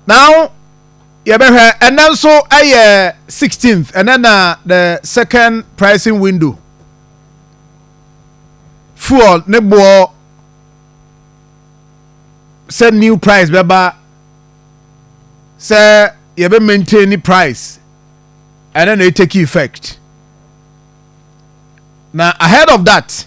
Now yɛbɛhwɛ ɛnɛ nso ɛyɛ 16th ɛnɛ na the second pricing window fuel ne boɔ sɛ new price bɛba sɛ yɛbɛ maintain ne price ɛnɛ na e take effect na ahead of that.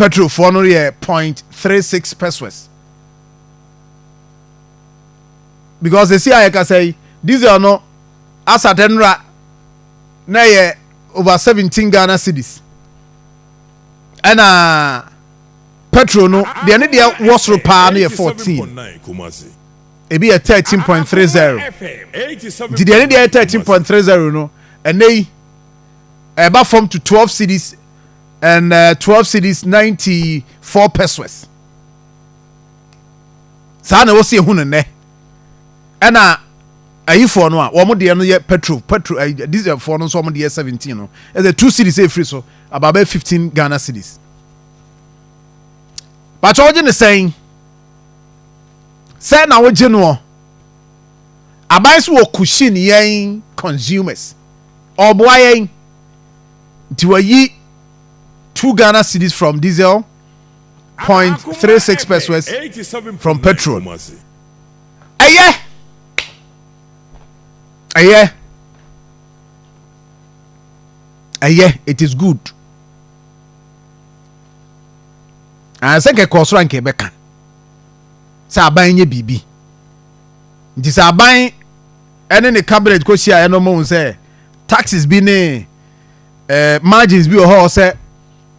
Petrofoɔ no yɛ point three six pesoes because esi a yɛkasa yi diesel no asate nnora na ɛyɛ over seventeen Ghana cedis ɛna petrol no deɛ ne deɛ wɔ soro paa no yɛ fourteen ebi yɛ thirteen point three zero nti deɛ ne deɛ yɛ thirteen point three zero no ɛnɛ yi ɛba fam to twelve cedis. and uh, 12 cities 94 pesos saa na ɛwɔ sɛ yɛhu no nnɛ ɛna ayifoɔ no a wɔn deɛ no yɛ petrol petrol ayi dieselfoɔ no nso wɔn deɛ 17 no ɛsɛ 2 cities ɛfiri so abaabɛ 15 ghana cities bàtɛ ɔgye ne sɛn sɛ na ɔgye noɔ aban so wɔ kushin yɛn consumers ɔboa yɛn. nti wayi two Ghana cedis from diesel point three six pesewas from petrol ɛyɛ ɛyɛ ɛyɛ it is good ansa ah, nkɛkɔ ɔsoro anka ɛbɛka sɛ aban nyɛ biribi nti sɛ aban ɛne ne cabinet kɔ hyiaeɛ no, wɔhu sɛ taxes bi ne eh, margins bi wɔ hɔ sɛ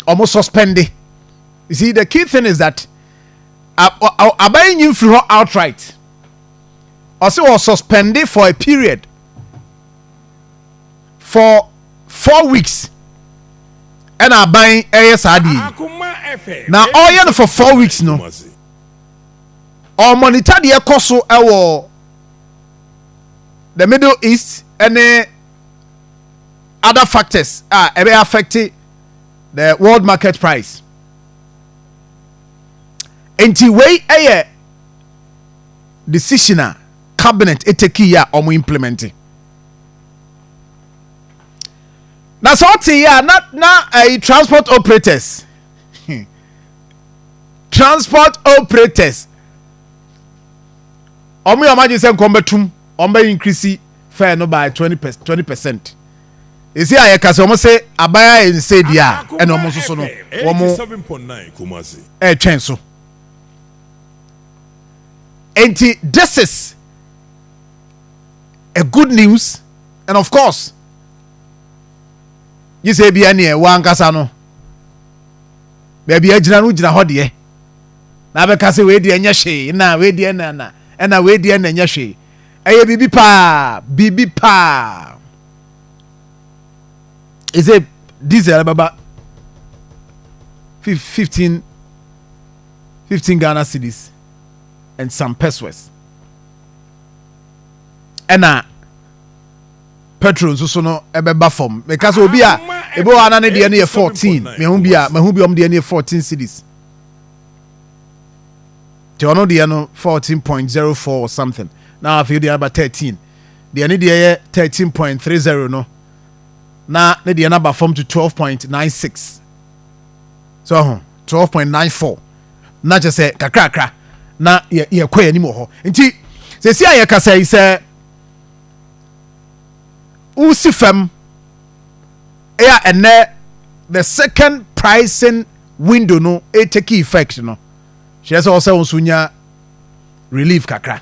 wɔn suspende. You see, the key thing is that aban yi nyi mfiri hɔ outright. Ɔsɛ wɔ suspende for a period for four weeks ɛna aban ɛyɛ saa deɛ yi na ɔyɛ no for four weeks no ɔmɔnita deɛ ɛkɔ so ɛwɔ. the middle east ne other factors a ɛbɛ affect the world market price nti wei yɛ decision a cabinet ɛtɛki yɛ a wɔn implement na sɛ ɔte yɛ a na na ɛyi eh, transport operators transport operators wɔn yɛ wɔn adwene sɛ nkɔm bɛtum wɔn bɛ increase fare no by twenty percent twenty percent esi a yɛka sɛ wɔn se aban a ɛnsɛ di a ɛna wɔn nso so no wɔn ɛretwɛn so nti this is a good news and of course gye sɛ ebia neɛ wankasa no baabi agyina no gyina hɔ deɛ. na abɛka sɛ wei deɛ ɛnyɛ hwee na wei deɛ na na ɛna wei deɛ na ɛnyɛ hwee ɛyɛ biribi paa biribi paa ɛsɛ diesel bɛba fifteen fifteen ghana cities and some pesos ɛna petrol nso so no ɛbɛba fam mɛka sɛ obi a ebi wɔ ana ne deɛ no yɛ fourteen mɛhu bi a mɛhu bi ɔmo deɛ no yɛ fourteen cities. nti ɔno deɛ no fourteen point zero four or something na afei deɛ aba thirteen deɛ ne deɛ yɛ thirteen point three zero no na ne deɛ no aba fam to twelve point nine six so ɔho twelve point nine four na kyɛ sɛ kakrakra na yɛ yɛkɔ yɛn anim wɔ hɔ nti sɛsi a yɛkasa yi sɛ wosi fam. ɛyɛ a ɛnɛ the second pricing window no ɛtake effect no kyerɛ sɛ ɔsɛ wo nso nya relief kakra